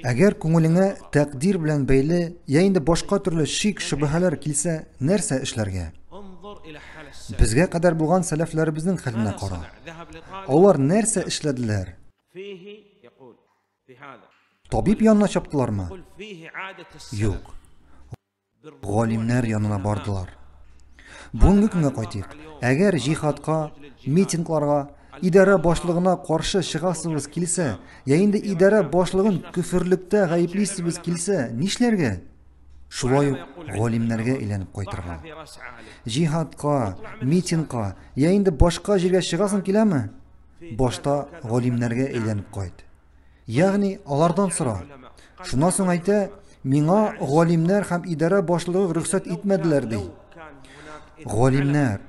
Әгәр күңелеңә тәкъдир белән бәйле я инде башка төрле шик шөбһәләр килсә, нәрсә эшләргә? Безгә кадәр булган сәләфләребезнең хәленә кара. Алар нәрсә эшләделәр? Табиб янына чаптылармы? Юк. галимнәр янына бардылар. Бүгенге көнгә кайтыйк. Әгәр җихадка, митингларга, идарә башлыгына каршы чыгасыбыз килсә, я инде идарә башлыгын көферлектә гаеплисебез килсә, нишләргә? Шулай ук галимнәргә әйләнеп кайтырга. Җихадка, митингка, я инде башка җиргә чыгасың киләме? Башта галимнәргә әйләнеп кайт. Ягъни алардан сора. Шуннан соң әйтә, миңа галимнәр һәм идарә башлыгы рөхсәт итмәделәр ди. Галимнәр,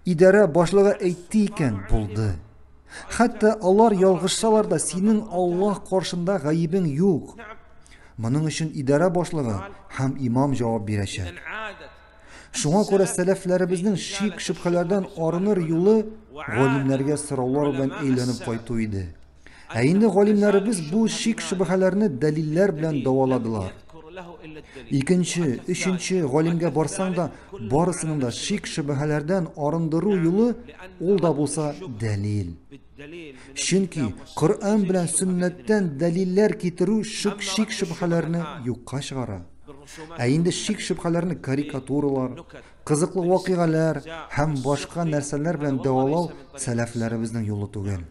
идарә башлыгы әйтте икән, булды. Хәтта алар ялгышсалар да, синең Аллаһ каршында гаебең юк. Моның өчен идарә башлыгы һәм имам җавап бирәчәк. Шуңа күрә сәләфләребезнең шик-шөбһәләрдән арыныр юлы галимнәргә сораулар белән әйләнеп кайту иде. Ә инде галимнәребез бу шик-шөбһәләрне дәлилләр белән дәваладылар. Икенче, өченче галимгә барсаң да, барысының да шик-шөбһәләрдән арындыру юлы ул да булса дәлил. Чөнки Коръән белән сөннәттән дәлилләр китерү шик шөбһәләрне юкка чыгара. Ә инде шик шөбһәләрне карикатуралар, кызыклы вакыйгалар һәм башка нәрсәләр белән дәвалау сәләфләребезнең юлы түгел.